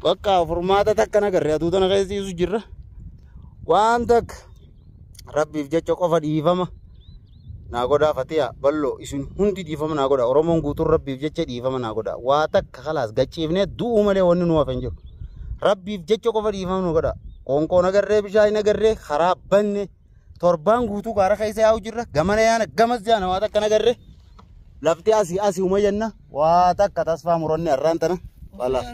Bakka furmaata takka hin agarre aduu tana keessa ciisu jirra. Waan takka rabbiif jecha qofa dhiifama naa godhaa fatiyaa bal'oo isin hundi dhiifama naa godhaa Oromoon guutuun rabbiif jecha dhiifama naa godhaa waa takka kalaas gachiifnee du'uu malee wanni nu hafe hin jiru. Rabbiif jecha qofa dhiifama nu godhaa. Qoonqoo nagarree bishaan nagarree karaa banne. torbaan guutuu gaara keessa yaa'u jirra gamana yaana gamas jaana waa takka nagarre lafti asii asii uma jenna waa takka tasfaa muranne har'aan tana balaas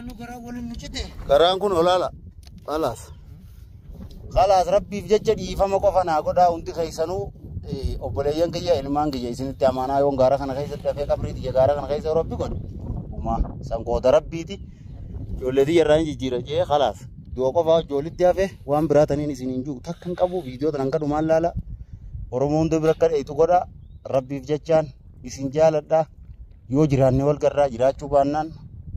garaan kun olaala balaas balaas rabbiif jecha dhiifama qofa naa godhaa hundi keessanuu eh, obboleeyyan kiyya ilmaan kiyya isinitti amaanaa yoon gaara kana keessatti hafee qabrii tiyya gaara kana keessa yeroo rabbi godhe umaa san qooda rabbiiti Ijoollee tiyya irraa hin jijjiira jee kalaas. Du'a qofaa ijoollitti hafe waan biraa taniin isin hin jiru takka hin qabu viidiyoo tana hanga dhumaan laala. Oromoo hunda bira akka dheeytu godha. Rabbiif jechaan isin jaaladha. Yoo jiraanne wal garraa jiraachuu baannaan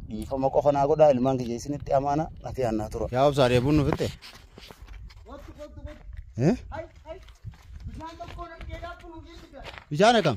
dhiifama qofa naa godha ilmaan kiyya isinitti amaana nafi aannaa tura. Yaa obsaa dheebuun nu fixxe. Eh? Bishaan akkam?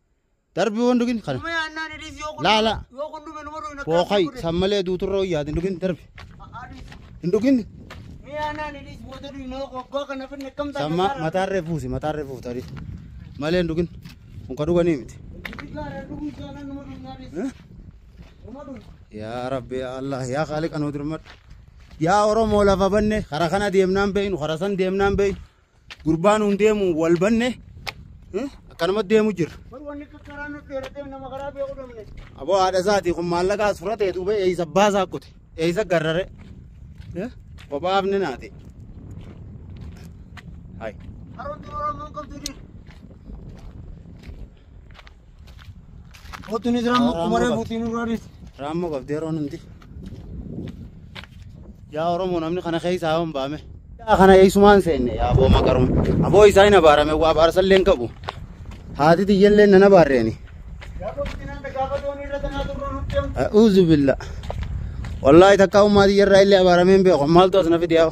Darbi waan dhugin kana. Dhumee annaa ni dhiis yoo kun Laa, laa. yoo kun dhume numa dhugna Bookai san malee duuturra wayyaa hin dhugin darbi. Hin dhugin Mee annaa ni dhiis booda dhugna yoo abbaa kana finne kam taate samma mataarree fuusi mataarree fuusi tarii. Malee hin dhugin. Kun ka dhuganii miti. Yaa Rabbi yaa Allah yaa Khaaliqa nu dirmadhu. Yaa Oromoo lafa banne karaa kana deemnaan beeynu karaa san deemnaan beeynu Gurbaa nuun deemu wal banne akkanuma deemu jirra. Aboo haadha isaati kun maallaqaa suratee duuba eeyisa baasaa kute eeyisa garrare kophaaf ni naate. Hai. Kottu ni jira amma kuma reefuutiin nurraa dhiisi. Raammoo qabdi yeroo hundi. Yaa Oromoo namni kana keessaa yoo hin baame. Yaa kana eessumaan seenne yaa aboo maqaruma. Aboo isaa hin abaarame waa abaarsa illee hin qabu. Haati tiyya illee nan abaarreeni. A'uuzu billa. Wallaahi takkaa ummaa tiyya irraa illee abaaramee hin beeku. Maaltu as na fide yaa.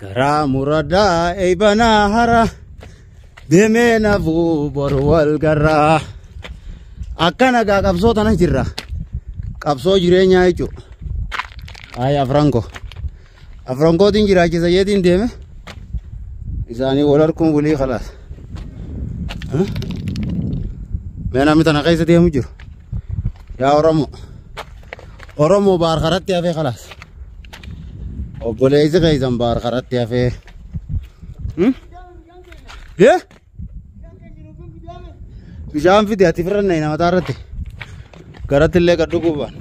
Garaa muradaa eeybanaa hara deemee nafuu bor wal garraa. Akkana gaa qabsoo tana jirra. Qabsoo jireenyaa jechuudha. Ayi afran koo. Afran kootiin jiraachisa jeetiin deeme. Isaanii wal harkuun bulii khalaas. Mee namni tana keessa deemu jiru. Yaa Oromoo. Oromoo baar karatti hafee kalaas. Obboleessi keessan baar karatti hafee. Hmm? Yee? Bishaan fide ati firra na mataa irratti. Garatti illee gad dhuguu baana.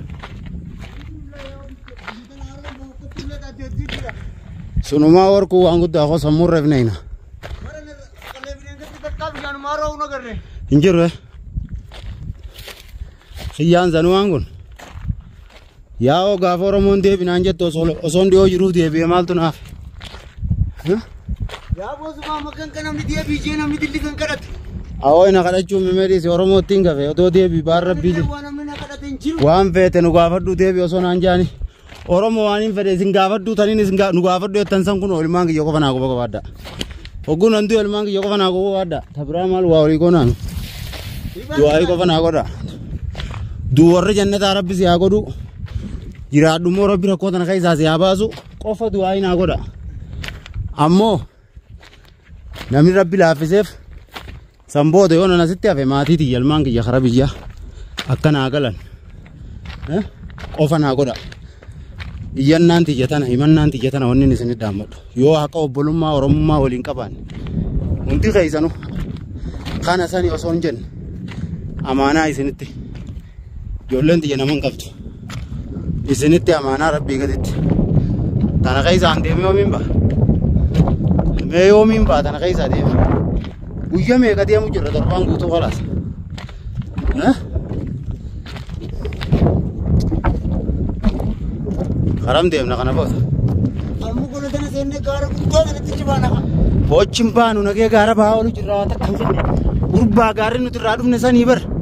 Sunumaa warquu waan guddaa koo sammuu irra ifna hina. Hin jiru eh? Kiyyaan Zanuwaan kun yaa'oo gaafa Oromoon deebinaan jettu osoo osoon dhiyoo jiruuf deebi'e maaltu naaf? Yaa boosumaa makan kan namni diya biyyee namni dilli kan kadhatu. Awoo ina kadhachuun mimeedhiis Oromoo ittiin gafe otoo deebi baar rabbii Rabbiin jedhe. waan namni na kadhate hin jiru. Waan feete nu gaafadhu deebi osoo naan jaani Oromoo waan hin fedhe isin gaafadhu taniin isin nu gaafadhu jettan san kun ilmaan kiyya qofa naa qofa qabaadha. Ogguun handuu ilmaan kiyya qofa naa qofa qabaadha. Tabiraa maal waa olii goonaan. Du'aa'ii qofa naa godha. Duu warri jannataa rabbi si haa godhu. Jiraadhu immoo rabbi rakkoo tana keessaa si haa baasu. Qofa du'aa'ii naa godha. Ammoo namni rabbi laaffiseef San booda yoon an asitti hafe maatii tiyya ilmaan kiyya karaa biyyaa akka naa galan eh, qofa naa godha. Iyyannaan tiyya tana himannaan tiyya tana wanni isin dhaammadhu. Yoo haqa obbolummaa oromummaa waliin qabaanne hundi keessanu kana sani osoo hin jenne amaanaa isinitti. Ijoolleen tiyya naman qabdu. Isinitti amaanaa rabbii gaditti. Tana keessaan deemee yoomiin ba'a? Mee yoomiin ba'a tana keessaa deema? Guyya meeqa deemu jirra torbaan guutuu kalaas. Eh? Karam deemna kana booda. Amma gola tana seennee gaara guddaa kanatti cibaana kan. Hojiin baanu nagee gaara bahaa oolu jirra waan takka hin jenne. Gurbaa gaarri nuti irraa dhufne sanii bar.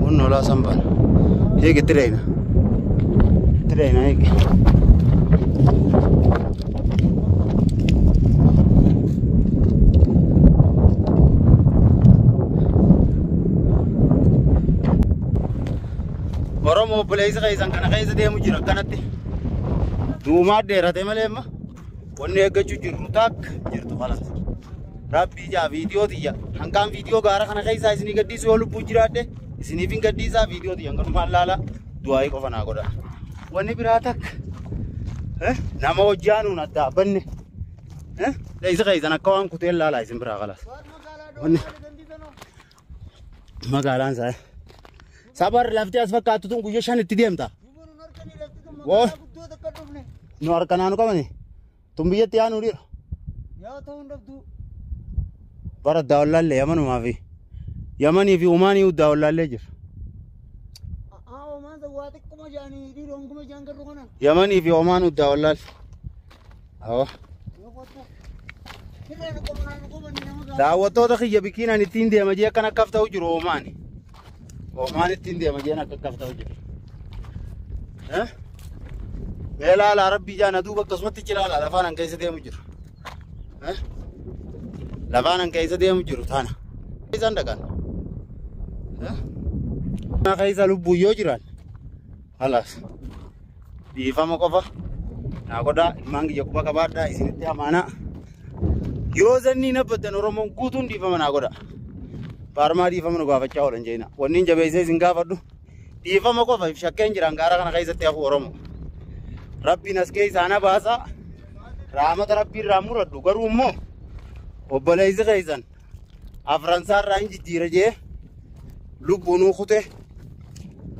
Kun olaa sambaan. Hiiki tireena. Tireena hiiki. Oromoo obboleessa keessan kana keessa deemu jira akkanatti. Duumaa dheerate malee amma. Wanni eeggachuu jirru taakka jirtu kalas. Rabbii ijaa viidiyoo tiyya hangaan viidiyoo gaara kana keessaa isinii gadhiisu yoo lubbuu jiraadhe isiniif hin gadhiisaa viidiyoo tiyya hanganumaan laala du'aayii qofa naa godha. Wanni biraa takka eh, nama hojii aanuun addaa banne eh, isa keessan akka waan kuteen laalaa isin biraa kalas. Wanni Magaalaan isaa. Sabar lafti as fakkaattu tun guyyaa shan itti deemta. Woo. Nu harka naanu qabani. Tun biyyatti yaa nuu dhiira. Bara daawwallaallee yamanumaa fi yamanii fi umaanii daawwallaallee jira. Yamanii fi omaanuu daawwallaal. Awwa. Daawwattoota kiyya bikkiin ani ittiin deema jee akkan akkaaf ta'u jiru oomaani. Oomaan ittiin deema jeen akka akkaaf ta'u jiru. Eh? Mee laalaa rabbii jaan aduu bakka sumatti cilaalaa lafaan an keessa deemu jiru. Eh? Lafaan an keessa deemu jiru taana. Isaan dhaqan. Eh? Mana keessa lubbuun yoo jiran Halaas dhiifama qofa naa godhaa ilmaan kiyya quba qabaadhaa isinitti amaanaa yoo zanniin abbattan oromoon guutuun dhiifama naa godha baarmaa dhiifama nu gaafachaa oolan jeena wanniin jabeessee isin gaafadhu dhiifama qofa if shakkeen jiraan gaara kana keessatti hafu oromoo rabbiin as keessaa na baasaa raamata rabbiin raa muradhu garuu immoo obboleessi keessan afran isaa irraa hin jijjiira jee lubbuu nuu kute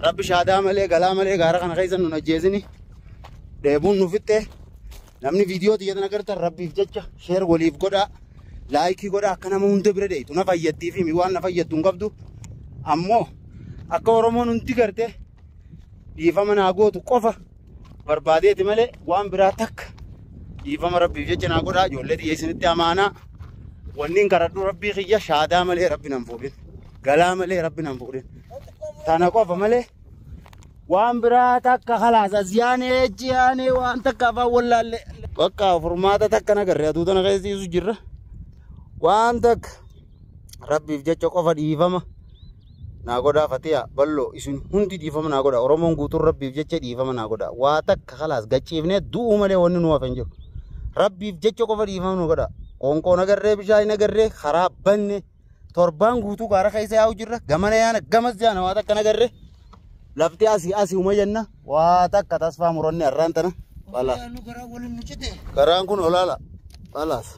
rabbi shaadaa malee galaa malee gaara kana keessa nun ajjeesini dheebuun nu fixxe namni viidiyoo tiyyatan agartan rabbiif jecha sheer waliif godhaa laayikii godhaa akka nama hunda bira deetu na fayyaddiif himi waan na fayyaddu hin qabdu ammoo akka oromoon hundi garte dhiifama naa gootu qofa barbaadeeti malee waan biraa takka dhiifama rabbiif jecha naa godhaa ijoollee tiyya isinitti amaanaa wanniin karadhu rabbii kiyya shaadaa malee rabbi nan fuudhin galaa malee rabbi nan fuudhin tana qofa malee waan biraa takka kalaas as yaanee achi yaanee waan takka afaan wallaallee bakka furmaata takka nagarre aduu tana keessisiisu jirra waan takka rabbiif jecha qofa dhiifama naa godhaa fatiya ballo isin hundi dhiifama naa godha oromoon guutuun rabbiif jecha dhiifama naa godha waa takka kalaas gachiifnee du'uu malee wanni nu hafe hin jiru rabbiif jecha qofa dhiifama nu godha qoonqoo nagarree bishaan nagarree karaa banne torbaan guutuu gaara keessa yaa'u jirra gamana yaana gamas yaana waa takka nagarree lafti asii asii uma jenna Waa takka tasfaa muranne har'aan tana. Khalaas. Yaa nu garaa waliin nu cite. Garaan kun olaala. Khalaas.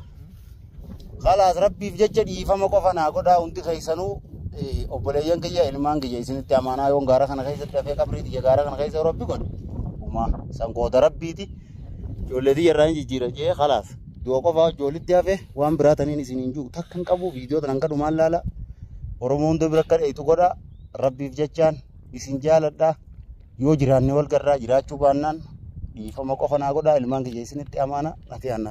Khalaas rabbiif jecha dhiifama qofa naa godhaa hundi keessanuu eh, obboleeyyan kiyya ilmaan kiyya isinitti amaanaa yoon gaara kana keessatti hafee qabrii tiyya gaara kana keessa yeroo rabbi godhe. Umaa sangoota rabbiiti. Ijoollee tiyya irraa hin jijjiira jee khalaas. Du'a qofa hojii walitti hafe waan biraa taniin isin hin jiru takka hin qabu viidiyoo tanan kadhumaan laala. Oromoo hunda bira akka dheeytu godha rabbiif jechaan. Isin jaaladha. Yoo jiraanne wal garraa jiraachuu baannaan dhiifama qofa naa godhaa ilmaan kiyya isinitti amaana. Nafiyaan naa.